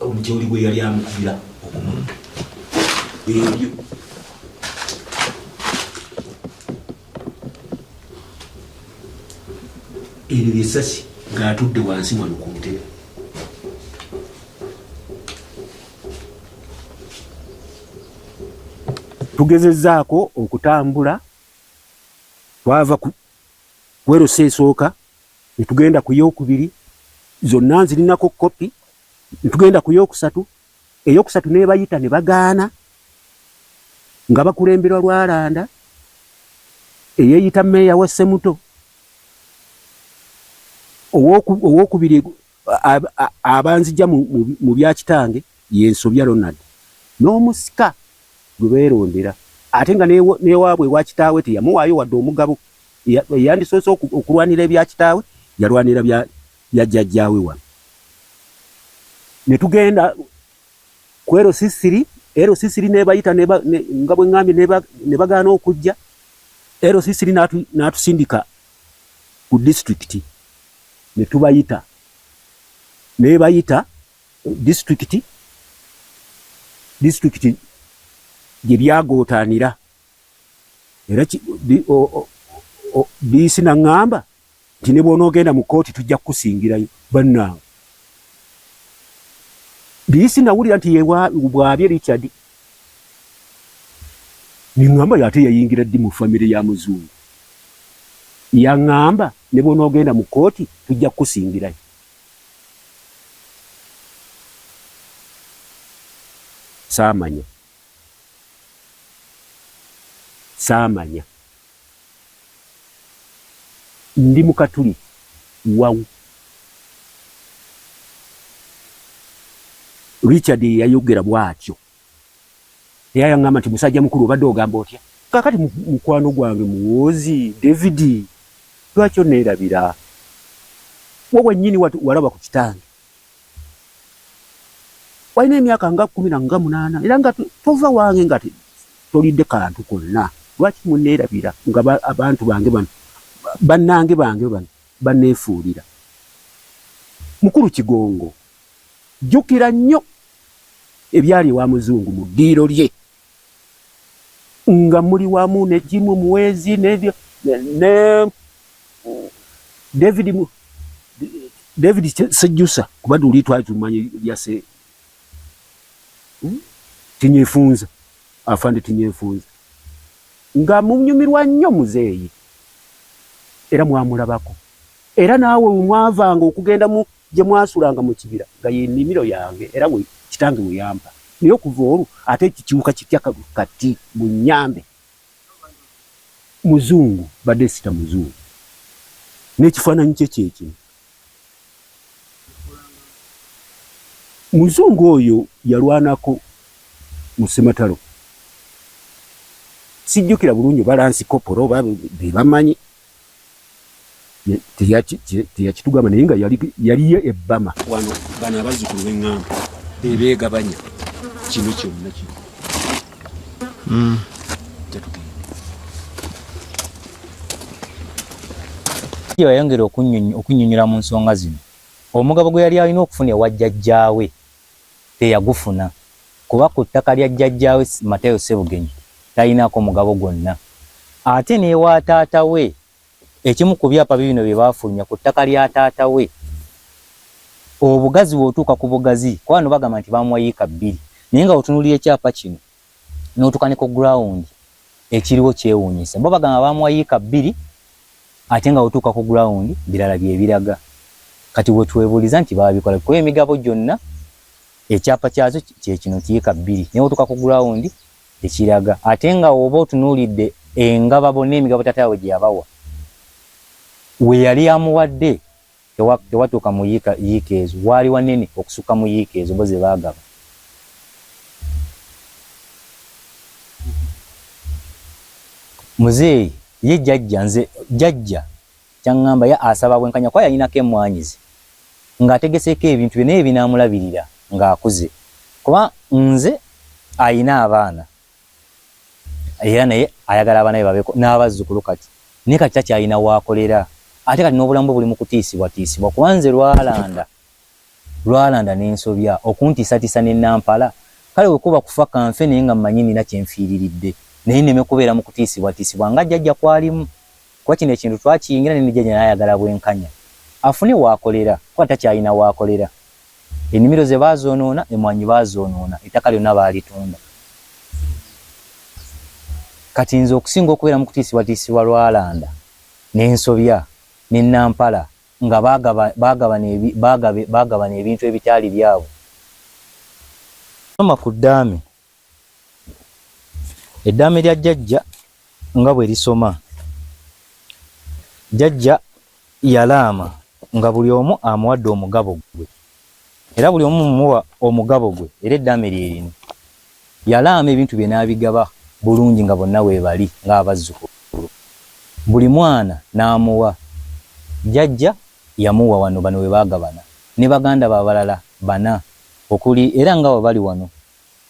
omutyoli gwe yali amukubira okumutta ebyo ebyo byesasi ngaatudde wansi wano ku ntebe tugezezaako okutambula twava ku werosa esooka Netugenda ku y'okubiri, zonna nzirinako kkopi. Netugenda ku y'okusatu, ey'okusatu n'ebayita ne bagaana nga bakulemberwa Lwalanda eyeeyita meeya wa Ssemuto. Ow'okubiri abanzija mu bya kitange yensobya Ronald n'omusika gwe beerondera ate nga n'ewaabwe ewa kitaawe teyamuwaayo wadde omugabo eyandisoose okulwanira ebya kitaawe yalwanira bya jjajjaawe wano ne tugenda ku LC3 LC3 nebayita nga bwe ŋŋambye ne bagaana okujja LC3 n'atusindika ku disitulikiti ne tubayita nebayita disitulikiti disitulikiti gye byagootaanira era diisi naŋŋamba nti ne bw'onoogenda mu kkooti tujja kukusingirayo bannange diisi nawulira nti bwabye Richard Nengamba oyo ate yayingira ddi mu family ya muzungu? Yangamba nebwonogenda mu kooti tujja kukusingirayo. Saamanya. Saamanya. Ndi mu katuli wawu. Richard ye yayogera bw'atyo era yang'amba nti musajja mukulu obadde ogamba otya? Kaakati mukwano gwange Muwoozi David lwaki onneerabira? Ggwe wennyini walaba ku kitange. walina emyaka nga kumi na nga munaana era nga tova wange nga tolidde kantu konna lwaki muneerabira nga abantu bange bano bannange bange bano baneefuulira mukulu kigongo jjukira nnyo ebyali ewa muzungu mu ddiiro lye nga muli wamu ne Jimu Muwezi ne, ne, ne David mu, David Sejusa kuba tuli twali tumanyi lya se hmm? tinyefunza afande tinyefunza nga munyumirwa nnyo muzeeyi era mwamulabako era naawe mwavanga okugenda mu, Gye mwasulanga mu kibira nga ye nnimiro yange era we kitange we yampa, naye okuva olwo ate ekyo kiwuka kitya kati munnyambe. Muzungu mbadde sita muzungu n'ekifaananyi kye kye kino. Muzungu oyo yalwanako mu Ssematalo, sijjukira bulungi oba lansi kopolo oba be bamanyi teyakitugamba naye nga yaliyo ebbama wano bano abazzukulu bengamba bebegabanya kino kyonna kino hmm. yayongera okunyonyola mu nsonga zino omugabo gwe yali alina okufuna ewa jjajjaawe teyagufuna kuba ku ttaka lya jjajjaawe Matayo Ssebugenyi talinaako mugabo gwonna ate n'ewa taata we ekimu ku byapa biibino bye baafulumya ku ttaka lya taata we obugazi bw'otuuka ku bugazi kuba bano bagamba nti baamuwa yiika bbiri naye nga otunuulira ekyapa kino notuka ne ku ground ekiriwo kyewunyisa bo bagamba bamuwa yika bbiri ate nga otuuka ku ground birala byebiraga kati wetwebuliza nti babikola kuba emigabo gyonna ekyapa kyazo kyekino nti yika bbiri naye otuuka ku ground tekiraga ate nga oba otunuulidde engaba bonna emigabo tata yawe gyeyabawa weyali amuwadde tewatuuka mu yiika yiika ezo waali wanene okusukka mu yiika ezo bo zebaagaba. Muzeeyi ye jajja nze jajja kyangamba ya asaba bwenkanya kuba yalinako emwanyi ze nga ategeseeko ebintu bye naye ebinaamulabirira nga akuze kuba nze alina abaana. era naye ayagala abanabe babeko n'abazzukulu kati naye kati takyalina waakolera ate kati n'obulamu bwe buli mu kutiisibwatiisibwa kuba nze lwalanda lwalanda n'ensobya okuntiisatiisa ne nampala kale bwe kuba kufa kanfe naye nga mmanyi nina kye nfiiriridde naye nneme kubeera mu kutiisibwatiisibwa nga jjajja kwalimu kuba kino ekintu twakiyingira ne ne jjajja naye ayagala bwenkanya afune waakolera kuba takyalina waakolera Ennimiro ze baazoonoona, emmwaanyi baazoonoona, ettaka lyonna baalitunda. Kati nze okusinga okubeera mu kutiisibwatiisibwa lwalanda ne nsobya ne Nampala nga baagabana ebintu ebitaali byabwe. Maama ku ddaame Eddaame lya Jajja nga bwe lisoma. Jajja yalaama nga buli omu amuwadde omugabo gwe era buli omu mumuwa omugabo gwe era eddaame lye lino. Yalaama ebintu bye n'abigaba bulungi nga bonna weebali ng'abazzukulu. Buli mwana n'amuwa. Jajja yamuwa wano bano we baagabana ne baganda be abalala bana okuli era nga wabali wano,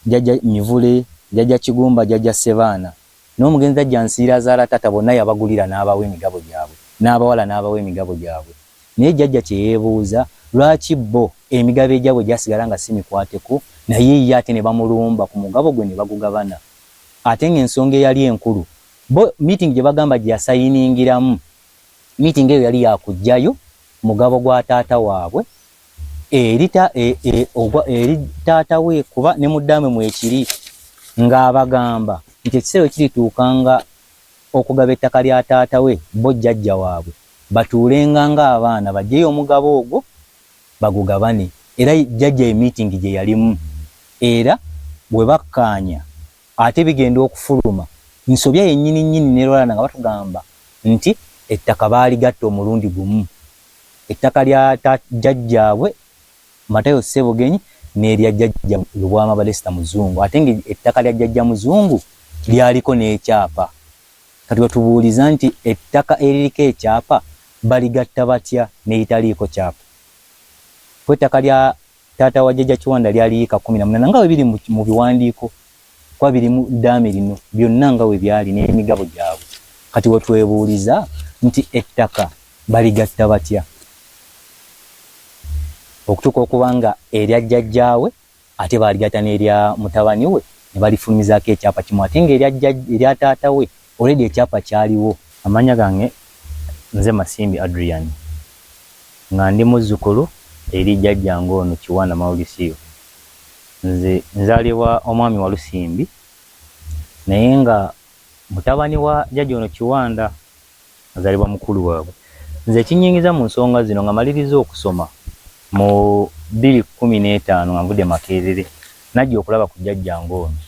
Jjajja Mivule, Jjajja Kigumba, Jjajja Ssebaana, n'omugenzi Ajja Nsiira azaala taata bonna yabagulira n'abawa emigabo gyabwe, n'abawala n'abawa emigabo gyabwe. Naye Jjajja kye yeebuuza, lwaki bo emigabo egyabwe gyasigala nga si mikwateko, naye ye ate ne bamulumba ku mugabo gwe ne bagugabana? Ate ng'ensonga eyali enkulu, bo miitingi gye bagamba gye yasayiningiramu, miitingi eyo yali ya kuggyayo mugabo gwa taata waabwe eri e, e, ogwa eri taata we kuba ne muddaame mwekiri ng'abagamba nti ekiseera kirituuka nga okugaba ettaka lya taata we bo jjajja waabwe batuulenga ng'abaana bajeyo omugabo ogwo bagugabane era jjajja ye miitingi gye yalimu era bwe bakkaanya Ate bigenda okufuluma nsobya yennyini nnyini ne Lwalana nga batugamba nti ettaka baaligatta omulundi gumu, ettaka lya jjajjaabwe Matayo Ssebugenyi n'erya jjajja Lubwama Balesta Muzungu ate ng'ettaka lya jjajja Muzungu lyaliko n'ekyapa. Kati batubuuliza nti ettaka eririko ekyapa baligatta batya n'eritaliiko kyapa? Ko ettaka lya. Taata wa Jajja Kiwanda lyali yiika kkumi na munaana nga bwe biri mu biwandiiko kuba biri mu ddaame lino byonna nga bwe byali n'emigabo gyabwe. Kati we twebuuliza nti ettaka baligatta batya okutuuka okuba nga erya jjajjaawe ate baaligatta n'erya mutabani we ne balifulumizaako ekyapa kimu ate ng'erya taata we Already ekyapa kyaliwo. Amanya gange nze Masimbi Adrian nga ndi muzukulu eri jjajjange ono Kiwana Mauriciu. Nze nzalibwa omwami Walusimbi naye nga mutabani wa jjajja ono Kiwanda azalibwa mukulu wabwe. Nze ekinyingiza mu nsonga zino nga malirizza okusoma mu bbiri kumi n'etaano nga nvudde Makerere najja okulaba ku jjajjange ono.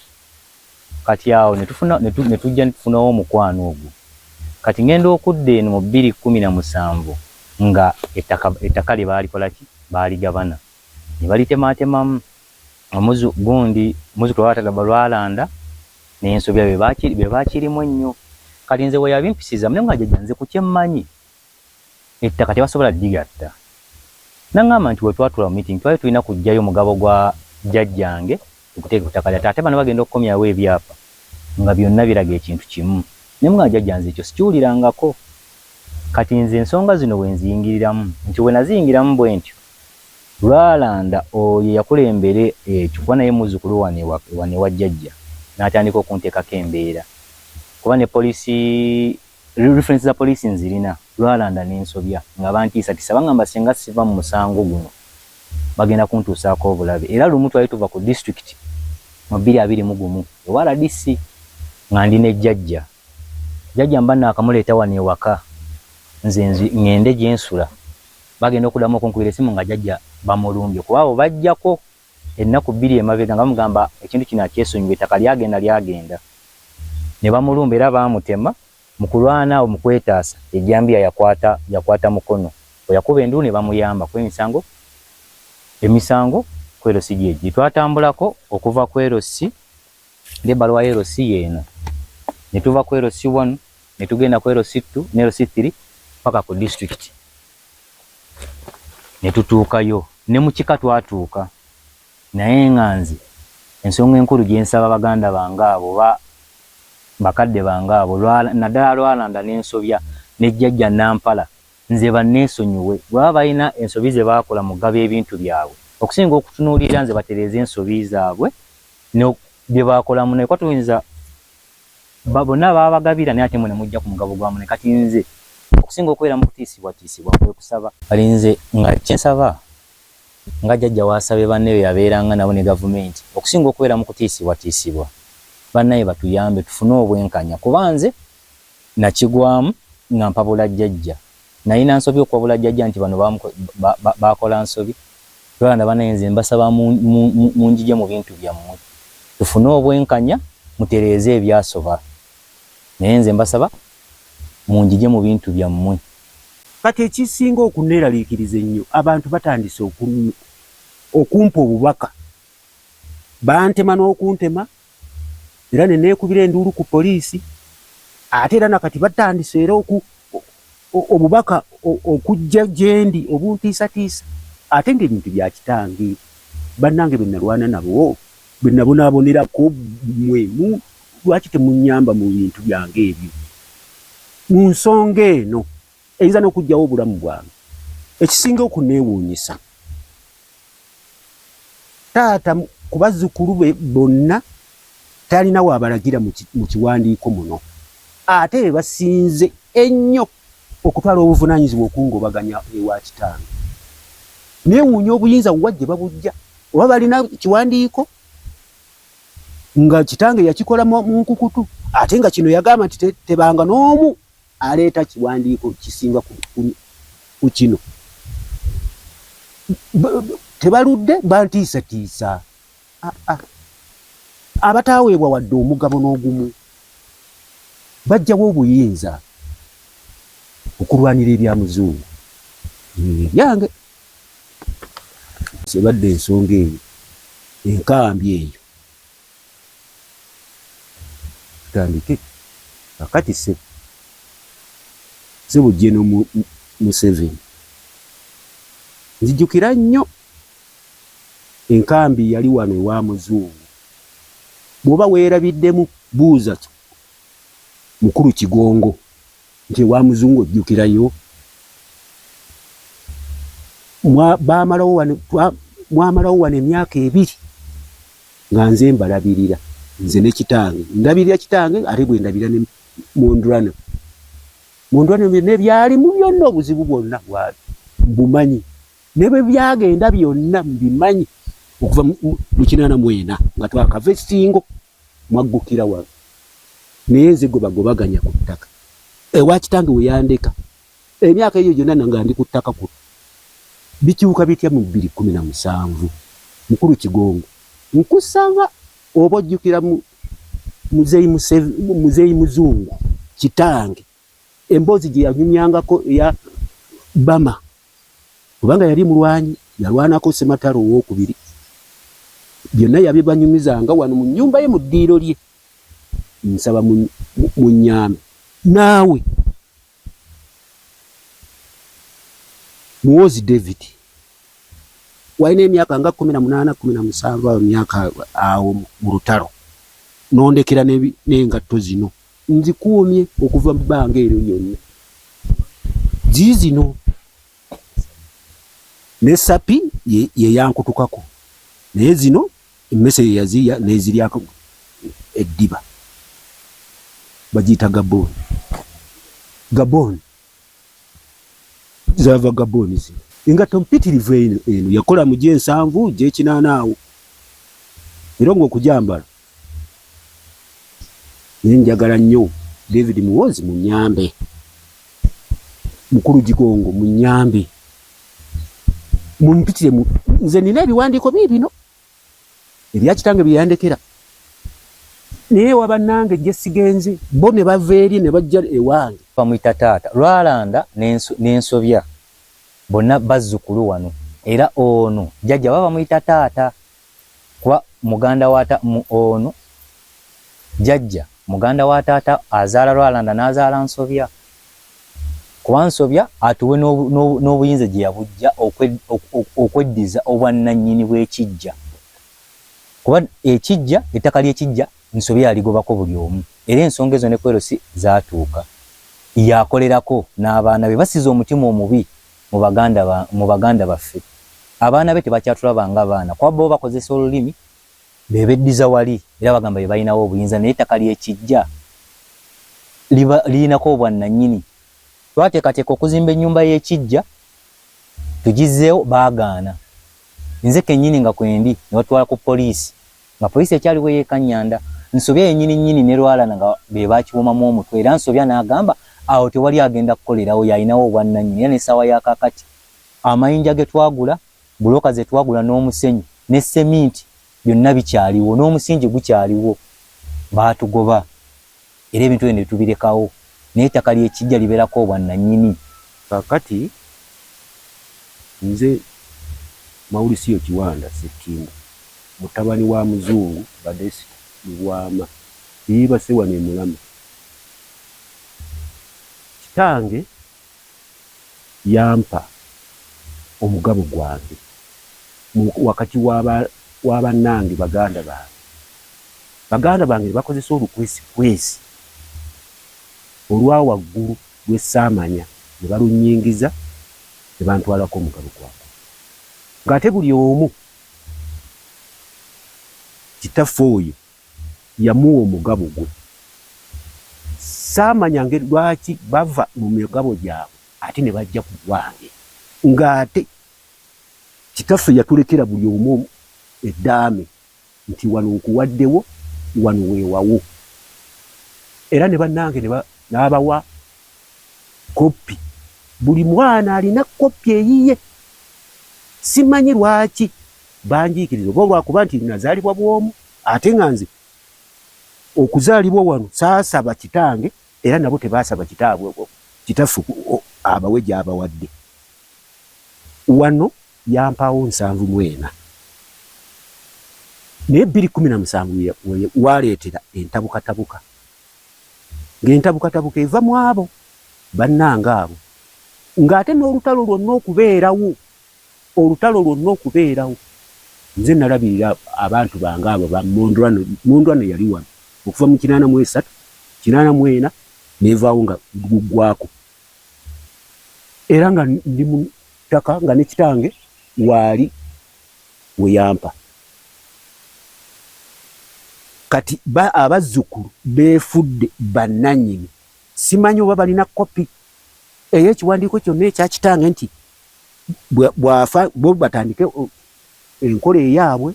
Kati awo ne tufuna, ne tu, ne tujja ne tufunawo omukwano ogwo. Kati ŋŋenda okudda eno mu bbiri kkumi na musanvu, nga ettaka, ettaka lye baalikola ki? Baaligabana, ne balitemaatemamu. Omuzu, gundi, muzzukulu wa Taata Gabba Lwalanda n'ensobya be baaki, be baakirimu ennyo. Kati nze bwe yabimpisizamu, ne ŋŋamba, Jajja, nze ku kye mmanyi, ettaka tebasobola digatta nangamba nti wetwatula mu meeting twali tulina kujjayo mugabo gwa jjajjange tuguteeke ku taka lya tate bano bagenda okukomyawo ebyapa nga byonna biraga ekintu kimu nemugamba jjajja nze ekyo sikiwulirangako kati nze ensonga zino wenziyingiriramu nti wenaziyingiramu bwentyo lwalanda oyo eyakulembera ekyo kuba naye muzukulu wano ewa jjajja natandika okuntekako embeera kuba ne police Reference za police nzirina lwalanda nensobya nga bantiisatisa bangamba singa siva mumusango guno bagenda kuntuusaako obulabe era lumu twali tuva ku district mu bbiri abiri mu gumu ewa rdc nga ndi ne jajja jajja mba nakamuleeta wano ewaka nze ngende gyensula bagenda okudamu okunkubira esimu nga jajja bamulumbye kuba abo bajjako ennaku bbiri emabega nga bamugamba ekintu kino akyesonyiwe, ettaka lyagenda lyagenda ne bamulumba era baamutema. Mu kulwana awo mu kwetaasa, ejjambiya yakwata yakwata mukono we yakuba enduulu ne bamuyamba kuba emisango emisango ku LC gye gye twatambulako okuva ku LC ng'ebbaluwa ya LC y'eno ne tuva ku LC one ne tugenda ku LC two ne LC three ppaka ku disitulikiti ne tutuukayo ne mu kika twatuuka naye nga nze ensonga enkulu gye nsaba baganda bange abo oba bakadde bange abo naddala Lwalanda ne Nsobya ne Jjajja Nampala nze banneesonyiwe bwe baba balina ensobi ze baakola mu kugaba ebintu byabwe okusinga okutunuulirira nze batereeze ensobi zaabwe ne bye baakola munnaye kuba tuyinza Bonna baabagabira naye ate mwe ne mujja ku mugabo gwa munne. Kati nze okusinga okubeera mu kutiisibwatiisibwa kwe kusaba. Kati nze nga kye nsaba nga jjajja w'asabye banne be yabeeranga nabo ne Gavumenti okusinga okubeera mu kutiisibwatiisibwa, bannaaye batuyambe tufune obwenkanya kuba nze nakigwamu nga mpabula jjajja. Nalina nsobi okuwabula jjaja nti bano bakola nsobi Rwanda banaye nze mbasaba munjije mubintu byamwe tufune obwenkanya mutereeze ebyasoba naye nze mbasaba munjije mubintu byamwe. Kati ekisinga okuneralikiriza ennyo abantu batandise okumpa obubaka bantema n'okuntema era ne neekubira enduulu ku poliisi ate era na kati batandise era oku obubaka okujja gyendi obuntiisatiisa ate ng'ebintu bya kitange bannange be nalwana nabo be nabonaabonerako mwe mu lwaki temunnyamba mu bintu byange ebyo mu nsonga eno Eyinza n'okuggyawo obulamu bwange. Ekisinga okunneewuunyisa, taata ku bazzukulu be bonna talina waabalagira mu kiwandiiko muno. Ate be basinze ennyo okutwala obuvunaanyizibwa okungobaganya ewa kitange. Neewuunya obuyinza wa gye babuggya? Oba balina kiwandiiko nga kitange yakikola mu nkukutu ate nga kino yagamba nti tebanga n'omu Aleeta kiwandiiko kisinga ku kino. Tebaludde bantiisatiisa. Abataaweebwa wadde omugabo n'ogumu baggyawo obuyinza okulwanira ebya Muzungu. Ebyange sebadde ensonga eyo enkambi eyo. Tutandike kakati sebo. Sebo General mu museveni nzijukira nnyo enkambi yali wano ewa muzungu bwoba weerabiddemu buuza mukulu kigongo nti ewa muzungu ojjukirayo bamalawo wano mwamalawo wano emyaka ebiri nga nze mbalabirira nze ne kitange ndabirira kitange ate bwendabira ne mondurana mondurana byonna ebyalimu byonna obuzibu bwonna bwali mbumanyi ne bwe byagenda byonna mbimanyi okuva mu kinaana mwena nga twakava esingo mwaggukira wano naye nze gwe bagobaganya ku ttaka ewa kitange weyandeka Emyaka eyo gyona nga ndi ku ttaka kuno, bikyuka bitya mu bbiri kkumi na musanvu? Mukulu Kigongo, nkusaba oba ojjukira mu Muzeeyi Museve, Muzeeyi Muzungu kitange, emboozi gye yanyumyangako eya Bama, kubanga yali mulwanyi, yalwanako Ssematalo ow'okubiri, byonna yabibanyumizanga wano mu nnyumba ye, mu ddiiro lye, nsaba munnyambe. Naawe. Muhoozi David walina emyaka nga kumi na munaana kumi na musanvu awo myaka awo mu lutalo nondekera n'engatto zino nzikuumye okuva mu bbanga eryo lyonna ziizino ne sapi ye yankutukako naye zino Emmese ye yazirya n'eziryako eddiba. Bagiyita gabooni. Gabooni zaava gabooni zino. Engatto mpitirivu eno eno yakola mu gy'ensanvu gy'ekinaana awo era ng'okugyambala naye njagala nnyo David Muwoozi munyambe, mukulu Gigongo munyambe mumpitire mu nze nina ebiwandiiko bii bino ebya kitange bye yandekera naye waba nange gye sigenze bo ne bava eri ne bajja ewange bamuyita taata lwalanda n'ensobya bonna bazzukulu wano era ono jjajja baba bamuyita taata Kuba muganda wa ta, mu, ono, jajja, muganda wa taata azaala Lwalanda n'azaala Nsobya. Kuba Nsobya atuwe n'obu, n'obu, n'obuyinza gye yabujja okwe, ok, ok, okweddiza obwannannyini bw'ekiggya. Kuba ekiggya, ettaka ly'ekiggya Nsobya yaligobako buli omu. Era ensonga ezo ne ku LC zaatuuka. Yakolerako n'abaana be. Basize omutima omubi mu baganda ba mu baganda baffe abaana be tebakyatulaba nga baana kuba bo bakozesa olulimi be beddiza wali era bagamba be balinawo obuyinza naye ettaka lye kijja liba lirinako obwannanyini. Twateekateeka okuzimba ennyumba y'e Kiggya tugizzeewo baagaana nze kennyini nga kwendi ne batutwala ku poliisi. Nga poliisi ekyali bwe yeekanyanda, Nsobya yennyini nnyini ne Lwalana nga be baakiwomamu omutwe era Nsobya n'agamba awo tewali agenda kukolerawo y'alinawo obwannannyini era n'essaawa ya kaakati amayinja ge twagula, bbulooka ze twagula n'omusenyu ne sseminti byonna bikyaliwo n'omusingi gukyaliwo baatugoba. era ebintu ebyo netubirekawo naye ettaka lyekijja liberako obwa nanyini. Kakati nze Mauriciyo Kiwanda Ssekindi mutabani wa Muzungu Badesita Lubwama eyeebase wano e Mulamu. Kitange. yampa omugabo gwange mu wakati wa bannange, baganda bange. Baganda bange ne bakozesa olukwesikwesi olwa waggulu lwe ssaamanya ne balunnyingiza ne bantwalako omugabo gwange ng'ate buli omu kitaffe oyo. yamuwa omugabo gwe saamanya ngeri lwaki bava mu migabo gyabwe ate ne bajja ku gwange ng'ate kitaffe yatulekera buli omu eddaame nti wano nkuwaddewo wano weewawo era ne bannange n'abawa koppi buli mwana alina koppi eyiye simanyi lwaki Banjiikiriza oba olwakuba nti nazaalibwa bw'omu ate nga nze okuzaalibwa wano saasaba kitange era nabo tebaasaba kitaabwe kitaffe abawe gy'abawadde. Wano yampaawo nsanvu mu ena naye bbiri kkumi na musanvu we waleetera entabukatabuka ng'entabukatabuka eva mu abo bannange abo ng'ate n'olutalo lwonna okubeerawo Olutalo lwonna okubeerawo, nze nalabirira abantu bange abo ba Mondwano, Mondwano yali wano okuva mu kinaana mu esatu, kinaana mu ena n'evaawo nga guggwaako era nga ndi mu ttaka nga ne kitange waali we yampa. Kati ba, abazzukulu beefudde bannannyini. Simanyi oba balina kkopi ey'ekiwandiiko kyonna ekya kitange nti bwafa bo batandike enkola eyaabwe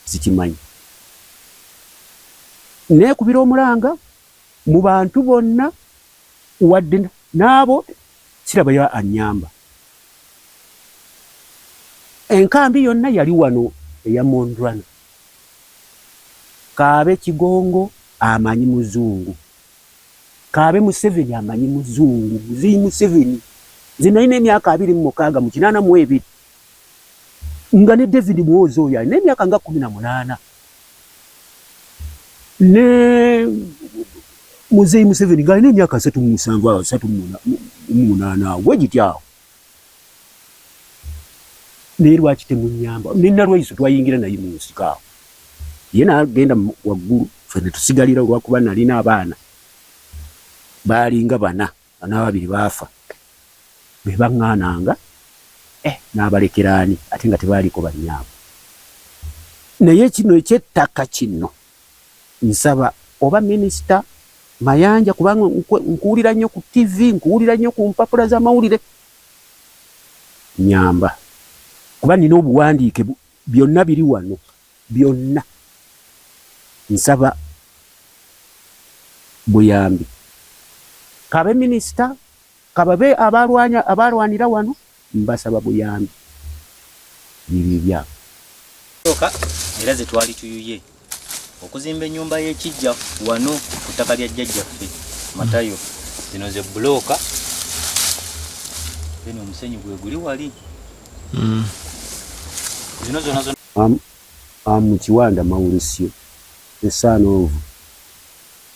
sikimanyi neekubira omulanga mu bantu bonna wadde n'abo kirabayo annyamba enkambi yonna yali wano eya mondrana kaabe kigongo amanyi muzungu Kaabe Museveni amanyi muzungu muzeyi Museveni nze nalina emyaka abiri mu mukaaga mu kinaana mu ebiri nga ne David Muwoozi oyo alina emyaka nga kumi na munaana ne muzeyi Museveni nga alina emyaka asatu mu musanvu awo asatu mu munaana awo bwe gityo awo. naye lwaki temunyamba nina lwaiso twayingira naye munsiko awo ye nagenda waggulu fe netusigalira olwakuba nalina abaana baalinga bana banababiri baafa bebaŋŋaananga eh, n'abalekeraani ate nga tebaaliko banyaabo naye kino ekyettaka kino Nsaba oba minister Mayanja kubanga nkuwulira nnyo ku TV, nkuwulira nnyo ku mpapula z'amawulire. Nyamba kuba nina obuwandiike byonna biri wano byonna. Nsaba buyambi. Kabe minister Ka babe abaalwanya, abaalwanira wano, mbasaba buyambi. Ebibi byabwe. Ssooka era ze twali tuyuye okuzimba ennyumba y'ekiggya wano ku ttaka lya jjajjaffe Matayo. Zino ze bbulooka, then omusenyu gwe guli wali. Zino zonna zonna. Am, am Kiwanda Maurisio, the son of.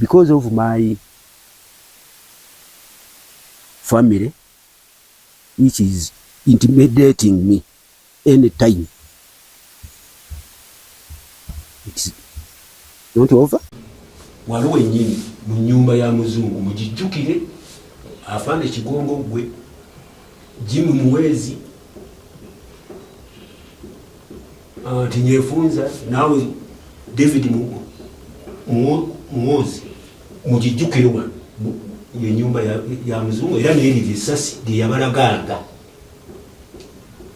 because of my family which is intimidating me any time it's not over waliwo enyini mu nyumba ya muzungu mugijjukire afande kigongo gwe jimu muwezi Ah, nti nyefunza naawe david muwozi mukijjukire wano enyumba ya muzungu era neriri esasi lyeyabalaganga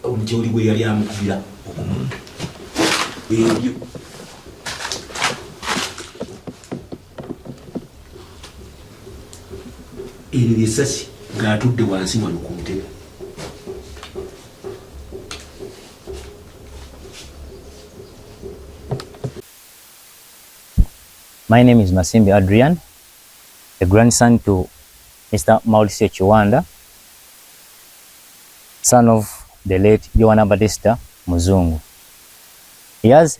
omutyoli gwe yali amukubira okumutta ebyo eryo lyessasi ngaatudde wansi wano ku ntebe My name is Masimbi Adrian, a grandson to Mr. Mauricio Chiwanda, son of the late Joana Batista Muzungu. He has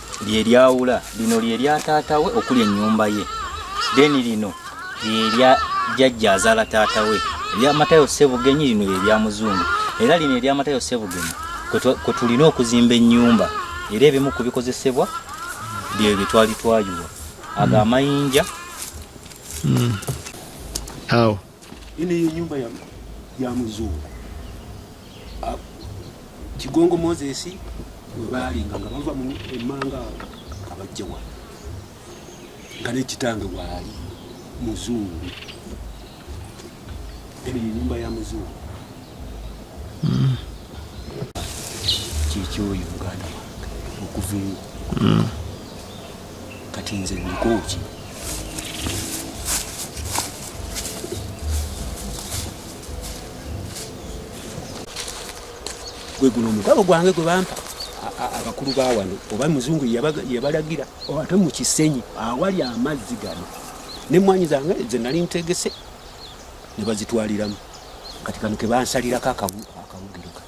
lye lyawula lino lye lya taata we okuli ennyumba ye then lino lye lya jjajja azaala taata we erya matayo ssebugenyi lino lye lya muzungu era lino erya matayo ssebugenyi kwe tulina okuzimba ennyumba era ebimu ku bikozesebwa bye bye twali twayuwa ago amayinja hmm. awo Ino ye nyumba ya, ya muzungu ah, Kigongo Moses webaalinga nga bava mu emmanga awo nga bajja wano nga nekitange waali muzungu eno ye nyumba ya muzungu mm. kyekyoyo muganda wange okuva eyo mm. kati nze ndikooki gwe guno omugabo gwange gwe bampa abakulu ba wano oba muzungu yabalagira ate mu kisenyi awali amazzi gano nemwanyi zange ze nali ntegese ne bazitwaliramu kati kano kebansalirako akawugiro